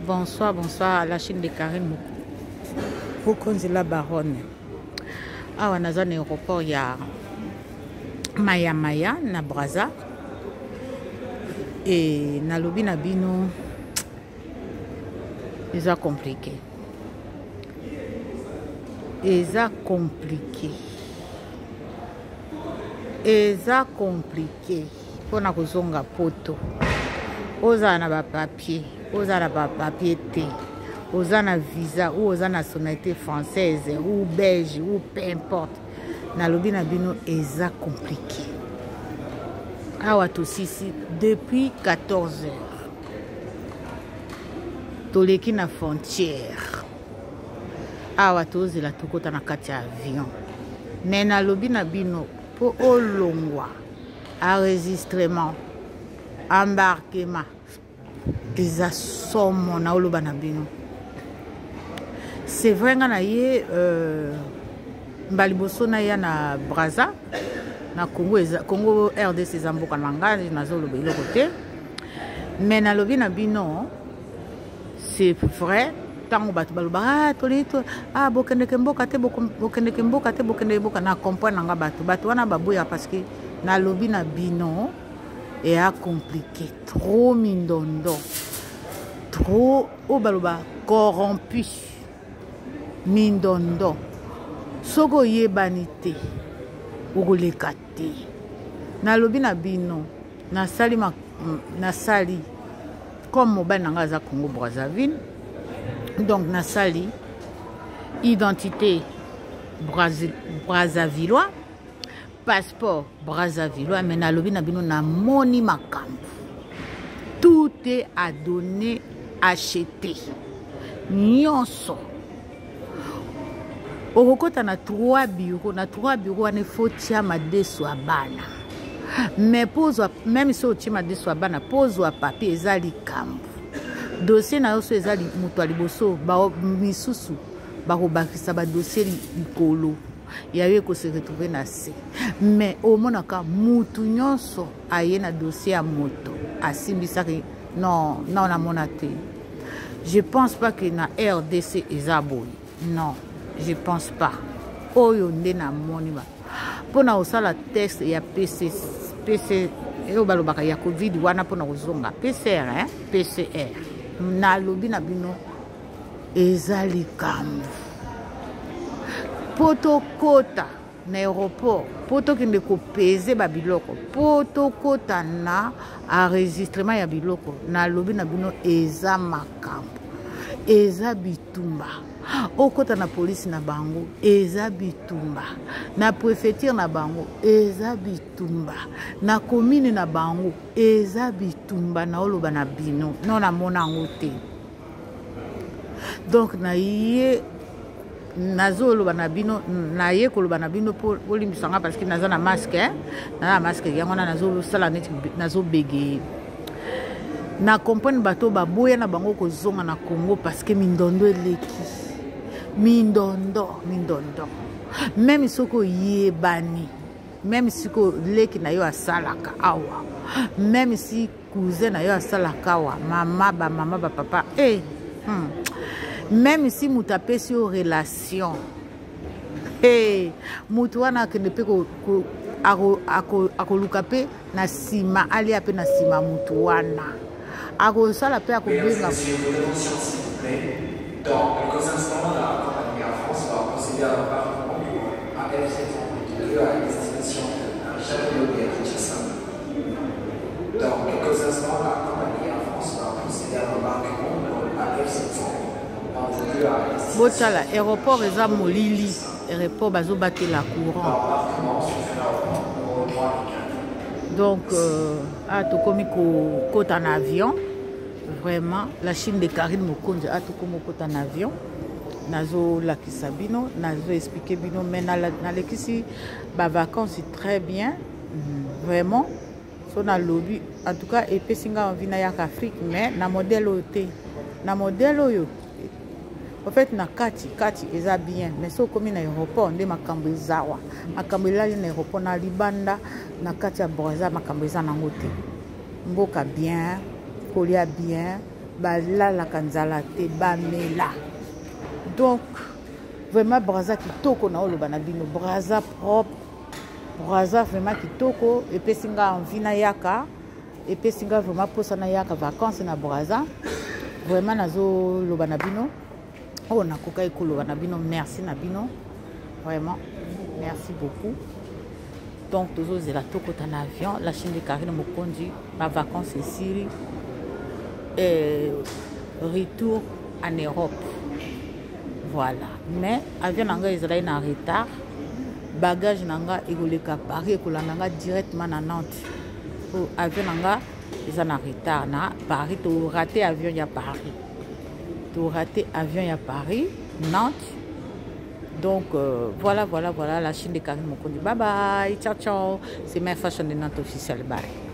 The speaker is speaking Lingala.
Bonsoir, bonsoir à la chaîne de Karine Mokonzi la baronne. Awa naza na aéroport ya Maya Maya na Brazza. Et nalobi na bino eza compliqué. Eza compliqué. Eza compliqué. mpo na kozonga poto ozala na bapapier ozala na bapapier te oza na visa ou oza nationalité française ou belge ou peu importe nalobi na bino eza compliqué awa tosisi depuis 14 heures toleki na frontière awa tozela tokota na kati ya avion me nalobi na bino mpo olongwa enregistrement embarquement eza somo na oloba na bino c'est vrai nga na ye euh, mba liboso naya na braza na congo eza, congo rdc eza mboka na ngai nazoloba eloko te me nalobi na bino c'est vrai ntango bato balobaka ah, tolei ah, bokendeke mboka te bokendeke mboka te bokendeke mboka na comprendre nanga bato bato wana baboya parce que nalobi na bino eya compliqué trop mindondo trop oyo baloba corrompu mindondo soki oyebani te okoleka te nalobi na bino nasali nasali comme mobali na ngai aza congo brazzaville donc nasali identité brazzavillois passeport brazzavillois mais nalobi na bino namoni makambo tout est à donner acheter nyonso okokota na trois bureau na trois bureau wana efo tia madeso ya bana mais mpo ozwa meme so otie madeso ya bana mpo ozwa papier eza likambo dossier na yo so eza moto ya liboso misusu bakobakisa badossier likolo ya yo ekose retrouve na se mais omonaka mutu nyonso aye na dossier ya moto asimbisaki non non namona te je pense pas que na rdc eza boye non je pense pas oyo nde namoni ba mpo na kosala test ya pc pc oyo balobaka ya covid wana mpo na kozonga pcr eh? pcr nalobi na bino eza likambo mpo tokota na aéroport mpo tokende kopeze babiloko mpo tokota na enregistrement ya biloko nalobi na bino eza makambo eza bitumba okota na polisi na bango eza bitumba na prefeture na bango eza bitumba na komine na bango eza bitumba naoloba na bino no namona yango te donc naye nazoloba na bino naye koloba na bino mpo bolimbisa nga parce que naza na masque eh? naza na masque yango wana nazosala neti nazobegeye na comprendre bato oyo baboya na bango kozonga na congo parce que mindondo eleki mindondo mindondo meme soki oyebani meme siko leki na yo asalaka awa meme si cousin na yo asalaka wa mama bamama bapapa e eh, hmm. meme si moto apesi yo relation hey, eh, moto wana akende mpe akoluka mpe na nsima alia mpe na nsima moto wana akosala mpe akobenga Donc, le Conseil national de la compagnie en France va procéder à la part du monde à F722 à destination de Jacques Lodé à Kinshasa. botala aéroport eza molili aéroport bazobatela courant donc euh, a tokomi kokota na avion vraiment la chine de carine mokonzi a tokomi kokota na avion nazolakisa bino nazoexplike bino mai nalekisi bavacances très bien vraiment so nalobi en tout cas epesi ngai envie nayaka afrique mais na modèle oyo te na modèle oyo en fait na kati kati eza bien mais soki okomi na aéroport nde makambo eza wa makambo elali na aéroport na libanda na kati ya braza makambo eza nango te mboka bien kolia bien balalaka nzala te bamela donc vraiment braza kitoko na oloba na bino braza propre Brazza vraiment kitoko epesi nga envie na yaka epesi nga vraiment posa na yaka vacances na Brazza vraiment nazoloba na bino oyo oh, nakokaki koloba na bino merci na bino vraiment merci beaucoup donc tozozela tokota na avion la chine de carine mokonzi bavacance esili eh, retour en europe voilà mais avion na ngai ezalaki na retard bagage na nga ekoleka paris ekolanda nga directement na nantes po avion na nga eza na retard na paris torate avion ya paris torate avion ya paris nantes donc euh, voilà voilà voilà la chine de carine mokondi bye bye ciao ciao c'est ma fashion de nantes officiel bye